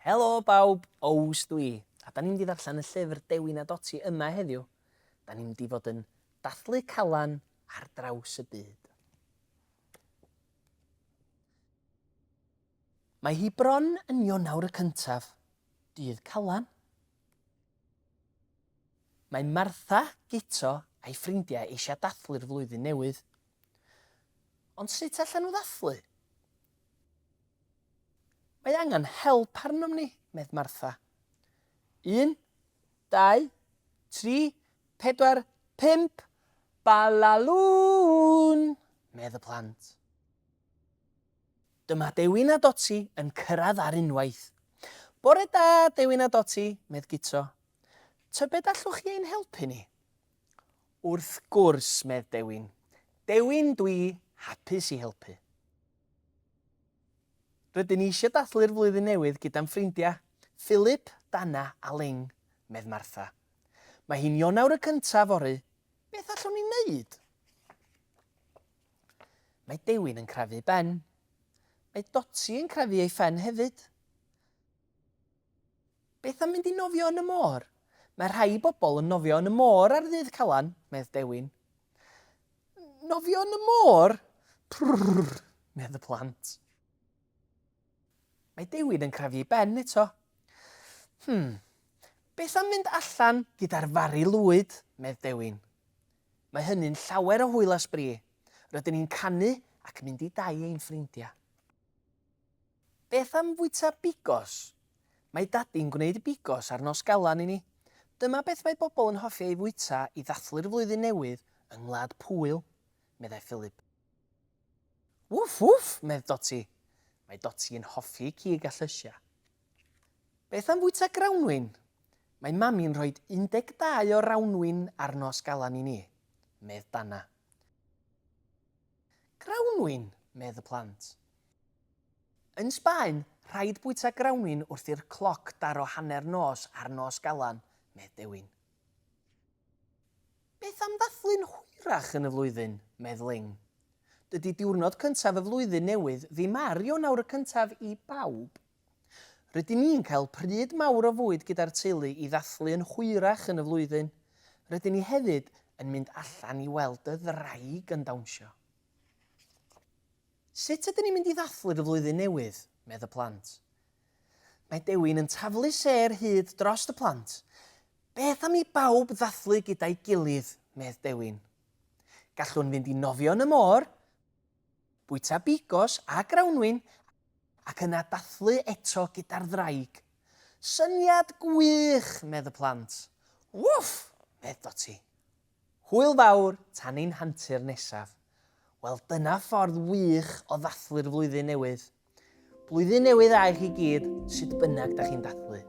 Helo bawb, Ows dwi, a da ni'n mynd i ddarllen y llyfr Dewi na Doti yma heddiw. Da ni'n mynd i fod yn dathlu calan ar draws y byd. Mae hi bron yn Ionawr y cyntaf, dydd calan, Mae Martha, Guto a'i ffrindiau eisiau dathlu'r flwyddyn newydd. Ond sut allan nhw ddathlu? Mae angen help arnom ni, medd Martha. Un, dau, tri, pedwar, pump, balalŵn! medd y plant. Dyma Dewin a Doti yn cyrraedd ar unwaith. Bore da, Dewin a Doti, medd Guto. Tybed allwch chi ein helpu ni? Wrth gwrs, medd Dewin. Dewin, dwi hapus i helpu. Rydyn ni eisiau dathlu'r flwyddyn newydd gyda'n ffrindiau, Philip, Dana a Ling, medd Martha. Mae hi'n Ionawr y cyntaf fory, beth allwn ni wneud? Mae Dewin yn crefu Ben. Mae Dotty yn crefu ei phen hefyd. Beth am mynd i nofio yn y môr? Mae rhai bobl yn nofio yn y môr ar ddydd Calan, medd Dewin. Nofio yn y môr? Prrrr, medd y plant. Mae Dewin yn crefu ei ben eto. Hmm, beth am mynd allan gyda'r fari lwyd, medd Dewin. Mae hynny'n llawer o hwyl a sbri. Rydyn ni'n canu ac mynd i dai ein ffrindiau. Beth am fwyta bigos? Mae Dadi'n gwneud bigos ar Nos Galan i ni. Dyma beth mae bobl yn hoffi ei fwyta i ddathlu'r flwyddyn newydd yng Ngwlad Pwyl, meddai Philip. Wff wff! medd Doti. Mae Doti yn hoffi cig a llysiau. Beth am fwyta grawnwin? Mae Mami'n rhoi 12 o rawnwin ar nos Galan i ni, medd Dana. Grawnwin! medd y plant. Yn Sbaen, rhaid bwyta grawnwin wrth i'r cloc daro hanner nos ar nos Galan, medd Dewin. Beth am ddathlu'n hwyrach yn y flwyddyn? medd Ling. Dydy diwrnod cyntaf y flwyddyn newydd ddim ar Ionawr y cyntaf i bawb. Rydyn ni'n cael pryd mawr o fwyd gyda'r teulu i ddathlu yn hwyrach yn y flwyddyn. Rydyn ni hefyd yn mynd allan i weld y ddraig yn dawnsio. Sut ydyn ni'n mynd i ddathlu'r flwyddyn newydd? medd y plant. Mae Dewin yn taflu sêr hud drost y plant. Beth am i bawb ddathlu gyda'i gilydd, medd Dewin. Gallwn fynd i nofio yn y môr, bwyta bigos a grawnwin ac yna dathlu eto gyda'r ddraig. Syniad gwych, medd y plant. Wff! medd Doti. Hwyl fawr tan ein hantur nesaf. Wel dyna ffordd wych o ddathlu'r flwyddyn newydd. Blwyddyn newydd dda i chi gyd, sut bynnag da chi'n dathlu.